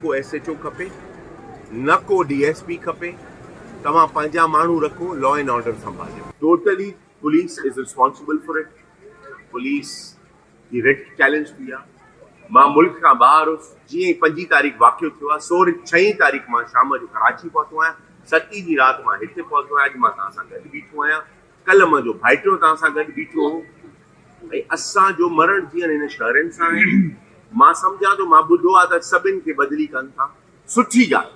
ڪو S H O کپي نه ڪو ڊي ايس پي کپي توهان پنهنجا ماڻهو رکو لا اينڊ آرڊر سنڀاليو. Totally police is responsible for it police جي رٽ چئلينج ٿي آ مان ملڪ کان ٻاهر هوس جيئن ئي پنجين تاريخ واقعو ٿيو آ سوري ڇهين تاريخ مان شام جو ڪراچي پهتو آهيان ستي جي رات مان هتي پهتو آهيان اڄ مان توهان سان گڏ بيٺو آهيان ڪلهه مان جو ڀائٽيو توهان سان گڏ بيٺو هو ۽ اسان جو مرڻ جيئڻ هن شهرين سان آهي. مان سمجهان ٿو مان ٻڌو آهي ته سڀن کي بدلي ڪن ٿا. سٺي ڳالهه.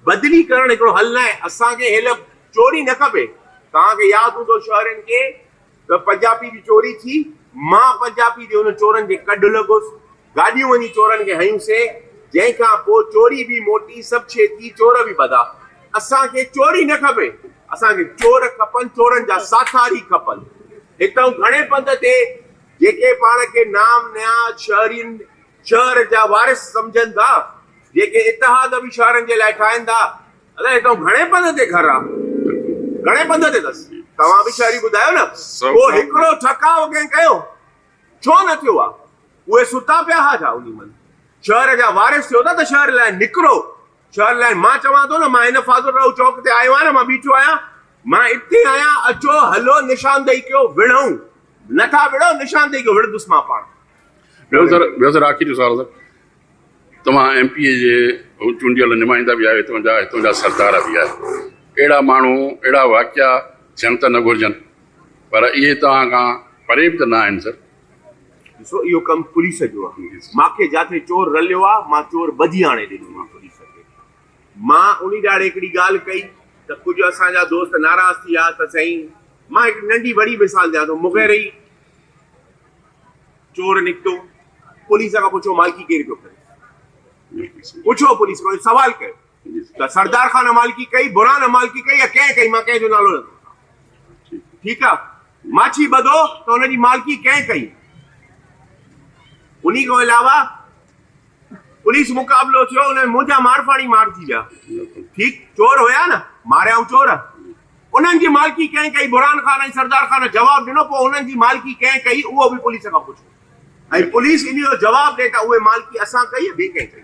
بدلي ڪرڻ هڪڙو حل نه آهي. اسان کي هيل چوري نه کپي. توهان کي ياد هوندو شهرين کي ته پنجاپي جي چوري ٿي. مان پنجاپي جي ان چورن جي ڪڍ لڳس. گاڏيون وڃي چورن کي هنيون سي جنهن کان پو چوري به موٽي سڀ ڇيتي چور به ٻڌا اسان کي چوري نه کپي اسان کي چور کپن چورن جا ساٿاري کپن هتئون گهڻي پنڌ تي جيڪي پاڻ کي نام نهاد شهرين شهر جا وارث سمجهن ٿا جيڪي اتحاد به شهرن جي لاء ٺاهين ٿا ادا هتئون گهڻي پنڌ تي گهر آ گهڻي پنڌ تي اٿس توهان به شهري ٻڌايو نه ڪو هڪڙو ٺڪاء ڪنهن ڪيو ڇو نه ٿيو آ؟ اهي ستا پيا ها جا انهي مند شهر جا وارث ٿيو ٿا ته شهر لاء نڪرو، شهر لاء مان چوان ٿو نه مان هن فاضل راهو چوڪ تي آيو آهيان مان بيٺو آهيان، مان اتي آهيان اچو هلو نشاندهي ڪيو وڙهون، نه ٿا وڙهو نشاندهي ڪيو وڙهندس مان پاڻ. ٻيو سر ٻيو سر آخري سوال سر توهان ايم پي اي جي چونڊيل نمائندا به آهيو هتان جا هتان جا سردار به آهيو اهڙا ماڻهو اهڙا واقعا ٿيڻ ته نه گهرجن پر اهي توهان کان پري به ته نه آهن سر. ڏسو اهو ڪم پوليس جو آهي. ماکي جاٿي چور رليو آهي مان چور ٻڌي آڻي ڏنو آهي پوليس کي. مان انهي ڏهاڙي هڪڙي ڳالهه ڪئي ته ڪجهه اسان جا دوست ناراض ٿي ويا ته سائين مان هڪڙي ننڍي وڏي مثال ڏيان ٿو مغيري چور نڪتو پوليس کان پڇو مالڪي ڪير پيو ڪري پڇو پوليس کان سوال ڪيو. ته سردار خان امالڪي ڪئي، برهان امالڪي ڪئي يا ڪنهن ڪئي مان ڪنهن جو نالو نه ٿو وٺان. ٺيڪ آ. ماڇي ٻڌو ته ان جي مالڪي ڪنهن ڪئي. انهي کان علاوه پوليس مقابلو ٿيو ان ۾ منهنجا مارفاڻي مارجي ويا. ٺيڪ چور هيا نه ماريائون چور. انهن جي مالڪي ڪنهن ڪئي برهان خان ۽ سردار خان جواب ڏنو پوء انهن جي مالڪي ڪنهن ڪئي اهو به پوليس کان پڇو ۽ پوليس انهي جو جواب ڏي ته اهي مالڪي اسان ڪئي يا ٻي ڪنهن ڪئي.